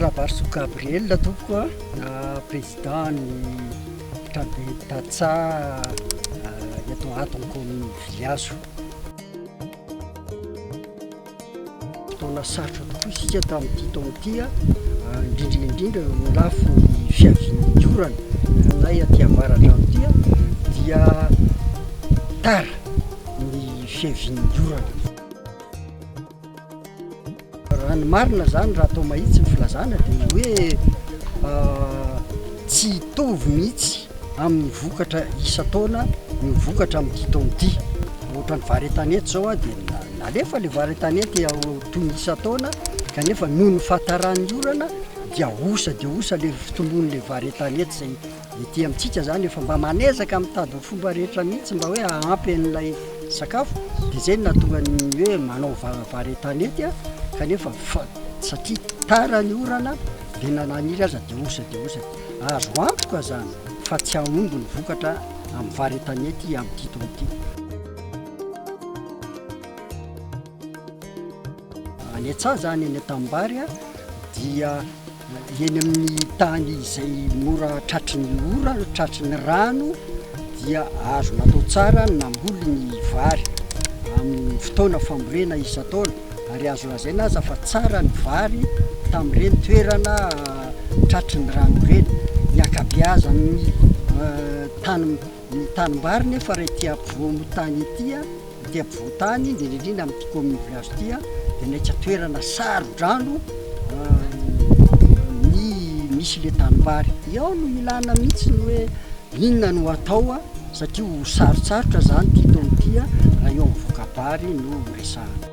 Rabarisoa Gabriel tompoko a, président ny trabe Dacha eto Aton commune Viliazo. Fotoana sarotra tokoa isika tamin'ity taona ity a, indrindra indrindra eo amin'ny lafiny fiavian'ny orana aminay aty avaradrano aty a, dia tara ny fiavian'ny orana. Raha ny marina izany, raha atao mahitsy ny filazana dia ny hoe tsy hitovy mihitsy amin'ny vokatra isan-taona ny vokatra amin'ity taona ity. Ohatra ny vary an-tanety izao dia nalefa ilay vary an-tanety toy ny isan-taona kanefa noho ny fahataran'ny orana dia osa dia osa ilay fitomboan'ilay vary an-tanety izay. Ety amintsika izany efa mba manezaka mitady ny fomba rehetra mihitsy mba hoe hahampy an'ilay sakafo dia izay no nahatonga ny hoe manao vary an-tanety aho kanefa satria tara ny orana dia na naniry aza dia osa dia osa. Azo antoka izany fa tsy hahomby ny vokatra amin'ny vary an-tanety amin'ity taona ity. Any an-tsaha izany, any an-tanimbary, dia eny amin'ny tany izay mora tratry ny ora, tratry ny rano, dia azo natao tsara ny namboly ny vary amin'ny fotoana fambolena isan-taona. Ary azo lazaina aza fa tsara ny vary tamin'ireny toerana tratry ny rano ireny. Ny ankabeazan'ny tany. Ny tanimbary nefa raha ity ampovoan-tany ity, ity ampovoan-tany indrindra indrindra amin'ity commune village ity dia naika toerana saro-drano ny misy ilay tanimbary. Ao no ilana mihitsy ny hoe inona no atao satria ho sarotsarotra izany ity taona ity raha eo amin'ny voka-bary no resahana.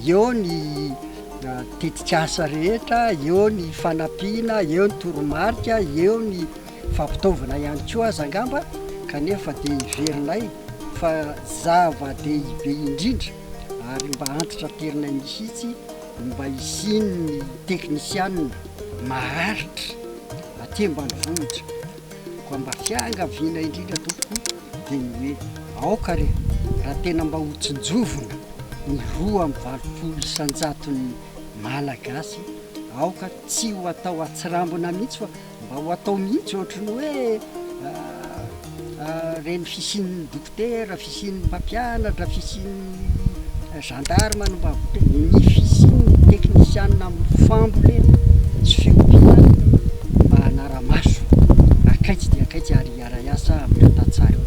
Eo ny tetikasa rehetra, eo ny fanampiana, eo ny toromarika, eo ny fampitaovana ihany koa aza angamba, kanefa dia heverinay fa zava-dehibe indrindra ary mba antitraterenay mihitsy ny mba hisian'ny teknisianina maharitra aty ambanivohitra. Koa mba fiangaviana indrindra tompoko dia ny hoe aoka re raha tena mba ho tsinjovina ny roa amby valopolo isanjaton'ny Malagasy aoka tsy ho atao atsirambina mihitsy fa mba ho atao mihitsy ohatry ny hoe reny fisian'ny Dokotera, fisian'ny mpampianatra, fisian'ny gendarme no mba voatery, ny fisian'ny teknisianina amin'ny fambolena sy fiompiana mba hanara-maso akaiky dia akaiky ary hiara-hiasa amin'ireo tantsaha ireo.